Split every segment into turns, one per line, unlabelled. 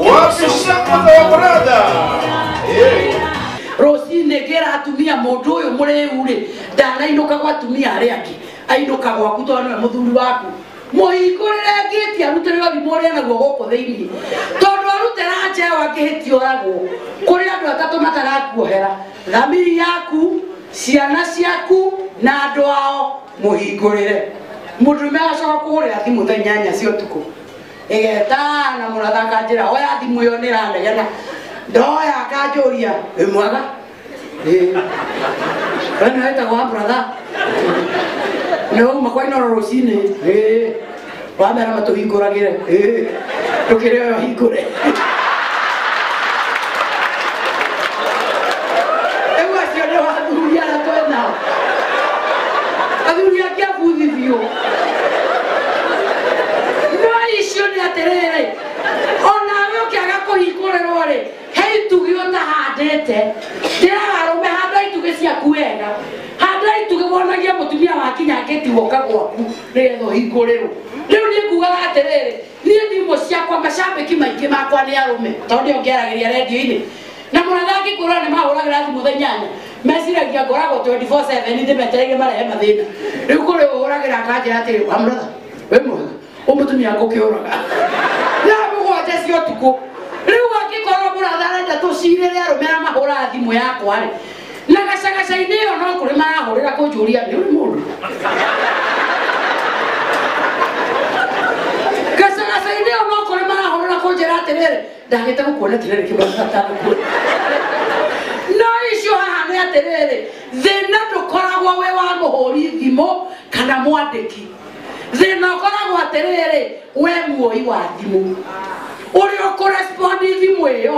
Wapi shamba za wabrada? Eh. rũcinĩ ngĩra atumia mũndũ ũyũ mũrĩu rĩ ndanainũka gwa atumia arĩa angĩ ainũka gwaku tondũ nĩwe mũthuri waku mũhingũrĩre ngĩti arutĩre ũrimũ ũrĩa naguo gũkũ thĩinĩ tondũ arutĩra njewa ngĩhĩti oragwo kũrĩ andũ atatũ matarakuohera Thamiri yaku, ciana ciaku na andũ ao mũhingũrĩre. Mũndũrũme agacoka kũhũrĩra thimũ thaa inyanya cia ũtukũ ĩgetana mũrathaka njĩra oya thimũ ĩyo nĩ ĩranegena ndoya akanjũria wĩ mwega Ĩĩ. we nĩ wetagwo wa brother nĩ wauma kwa inoro rũcinĩ Ĩĩ. wamera matũhingũragĩre ĩĩ, ndũkĩrĩ oyo hingũre rĩu acio nĩ athuri arĩa twĩ nao athuri angĩ abuthi biũ no icio nĩ atĩrĩrĩ onawe ũkĩaga kũhingũrĩrwo rĩ he itugĩ ũtahandĩte ndĩraga arũme handa itugĩ ciaku wega handa itugĩ wonagia mũtumia wakinya ngĩti woka gwaku nĩgetha ũhingũrĩrwo rĩu niĩ ngugaga atĩrĩrĩ niĩ thimũ ciakwa macambĩki maingĩ makwa nĩ arũme tondũ nĩo ngĩaragĩria rendio-inĩ na mũratha angĩkũrora nĩ mahũragĩra thimũ thaa inyanya meciragia ngoragwo 24/7 nĩ metereire marehe mathĩna rĩu kũrĩ ũhũragĩra akanjĩra atĩrĩ wa mũratha wĩ mwega ũmũtumia ngũkĩũraga thaa mũgwanja cia ũtukũ rĩu angĩkorwo mũratha arenda tũcirĩre arũme arĩa mahũraga thimũ yakwa-rĩ na gacagaca-inĩ ĩyo no kũrĩ marahũrĩra kũnjũria nĩ ũrĩ mũndũ gacagaca-inĩ ĩyo no kũrĩ marahũrĩra kũnjĩra atĩrĩrĩ ndagĩte gũkuona atĩrĩrĩ kĩmaagatagũkuo no icio haha nĩ atĩrĩrĩ thĩna ndũkoragwo wĩ wa mũhũri thimũ kana mwandĩki thĩna ũkoragwo atĩrĩrĩ we muoi wa thimũ ũrĩa ũkũrespondi thimũ ĩyo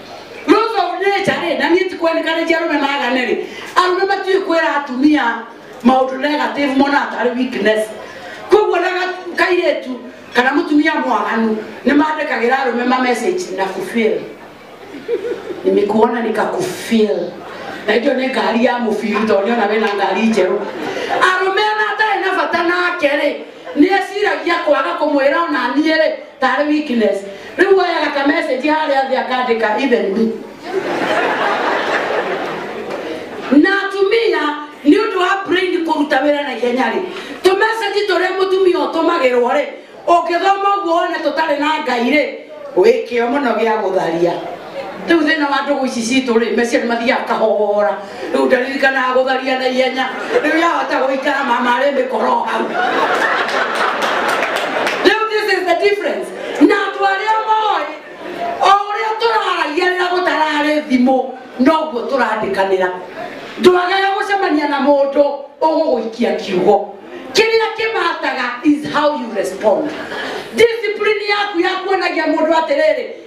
Ruto unecha rĩ na niĩ tikwenĩkanĩtie arũme magane rĩ arũme matiĩ kwĩra atumia maũndũ negative mona atarĩ weakness koguo na ga- kairĩtu kana mũtumia mwaganu nĩ mandĩkagĩra arũme ma message na kufil nimekuona nikakufil na icio nĩ ngari ya mũbiri tondũ nĩona wĩna ngari njerũ arũme ona atarĩ na bata nake rĩ nĩ eciragia kwaga kũmwĩra ona niĩ rĩ Tarĩ weakness. Rĩu woyaga ka message harĩa thĩ akandĩka even me. Na atumia nĩ ũndũ wa brain kũruta wĩra na ihenya rĩ, tũ message tũrĩa mũtumia ũtũmagĩrwo rĩ, ũngĩthoma ũguo wone tũtarĩ na Ngai rĩ, wĩ kĩo mũno gĩa gũtharia. rĩu thĩna wa ndũgũ ici citũ rĩ meciarĩ mathiaga kahora rĩu ndaririkanaga gũtharia na ihenya rĩu yahota gũikara mama arĩ mĩkoro hau rĩu this is the difference na andũ arĩa moĩ o ũrĩa tũraragia rĩrĩa gũtararĩ thimũ noguo tũrandĩkanĩra ndwagaga gũcemania na mũndũ ũgũgũikia kiugo kĩrĩa kĩmataga is how you respond discipline yaku yakuonagia mũndũ atĩrĩrĩ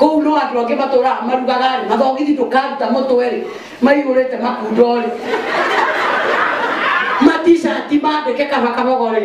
kũu no andũ angĩ matũraga marugaga-rĩ mathogithi ndũkaruta mũtwe-rĩ maihũrĩte makundo-rĩ matishati mandĩke kaba kabogo-rĩ